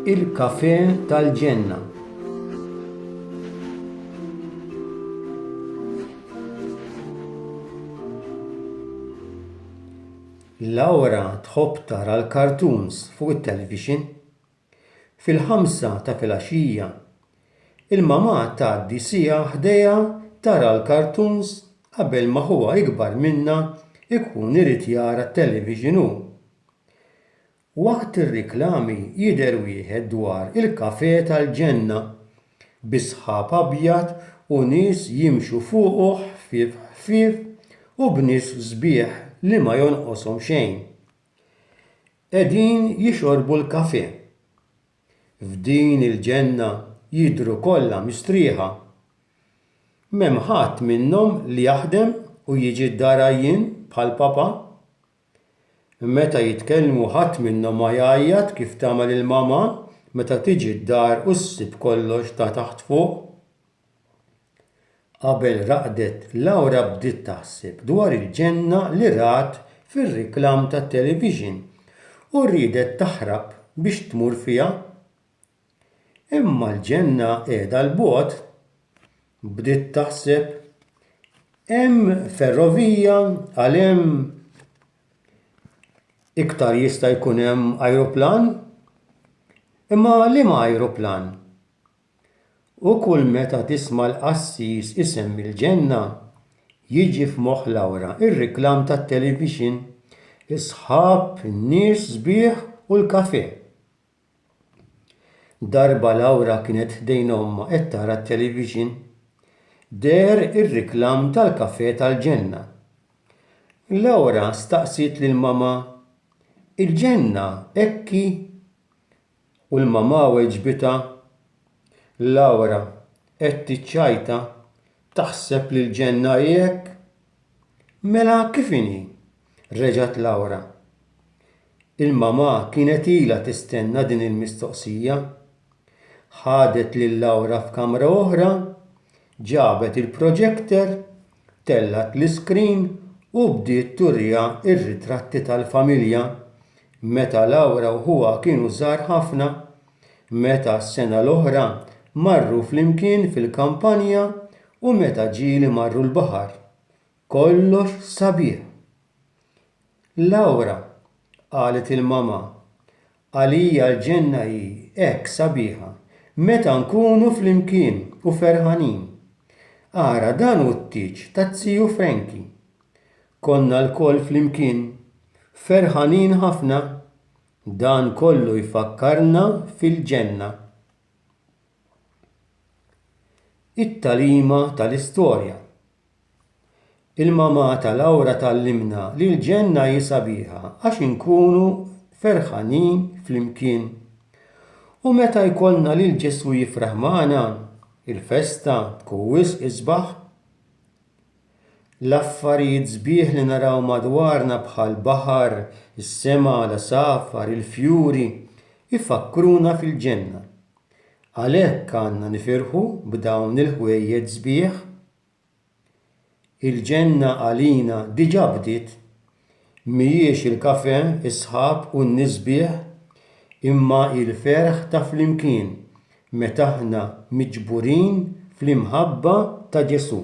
il-kafe tal-ġenna. Laura tħobb tara l-cartoons fuq it-television Fil-ħamsa ta' filgħaxija, il-mamà tgħaddi siegħa ħdejha tara l-cartoons qabel ma ħuha ikbar minnha jkun irid jara t-television hu. Waqt ir-riklami jidher wieħed dwar il-kafè tal-ġenna, bi sħab abjad u nies jimxu fuqu ħfief ħfief u b'nies sbieħ li ma jonqoshom xejn. Qegħdin jixorbu l-kafè. F'din il-ġenna jidhru kollha mistrieħa. M'hemm ħadd minnhom li jaħdem u jiġi d-dar għajjien bħal papa. Meta jitkellmu ħadd minnhom ma jgħajjat kif tagħmel il-mama meta tiġi d-dar u ssib kollox ta' taħt fuq. Qabel raqdet, Laura bdiet taħseb dwar il-ġenna li rat fir-reklam tat-televixin u riedet taħrab biex tmur fiha. Imma l-ġenna qiegħda 'l bogħod, bdiet taħseb. Hemm ferrovija għal hemm. Iktar jista' jkun hemm ajruplan? Imma liema ajruplan? U kull meta tisma' l-qassis isemmi l-ġenna, jiġi f'moħħ Laura r-reklam tat-televixin, is-sħab, in-nies sbieħ u l-kafè. Darba Laura kienet ħdejn ommha qed tara t-televixin, deher ir-reklam tal-kafè tal-ġenna. Laura staqsiet lil mamà, Il-ġenna hekk hi? U l-mamà weġbitha, Laura qed tiċċajta, taħseb li l-ġenna hi hekk? Mela kif inhi? reġgħet Laura. Il-mamà kienet ilha tistenna din il-mistoqsija. Ħadet lil Laura f'kamra oħra, ġabet il-projector Tellgħet l-iskrin u bdiet turiha r-ritratti tal-familja meta Laura u ħuha kienu żgħar ħafna, meta s-sena l-oħra marru flimkien fil-kampanja u meta ġieli marru l-baħar. Kollox sabiħ! Laura, qalet il-mamà, Għalija l-ġenna hi hekk sabiħa meta nkunu flimkien u ferħanin. Ara dan hu t-tieġ taz-ziju Frankie. Konna lkoll flimkien, ferħanin ħafna. Dan kollu jfakkarna fil-ġenna. It-tagħlima tal-istorja. Il-mamà ta' Laura tgħallimna li l-ġenna hi sabiħa għax inkunu ferħanin flimkien. U meta jkollna lil Ġesù jifraħ magħna, il-festa tkun wisq isbaħ. L-affarijiet sbieħ li naraw madwarna bħall-baħar, is-sema, l-għasafar, il-fjuri, ifakkruna fil-ġenna. Għalhekk għandna nifirħu b'dawn il-ħwejjeġ sbieħ. Il-ġenna għalina diġà bdiet, mhijiex il-kafè, is-sħab u n-nies sbieħ, imma hi l-ferħ ta' flimkien meta aħna miġburin fl-imħabba ta' Ġesù.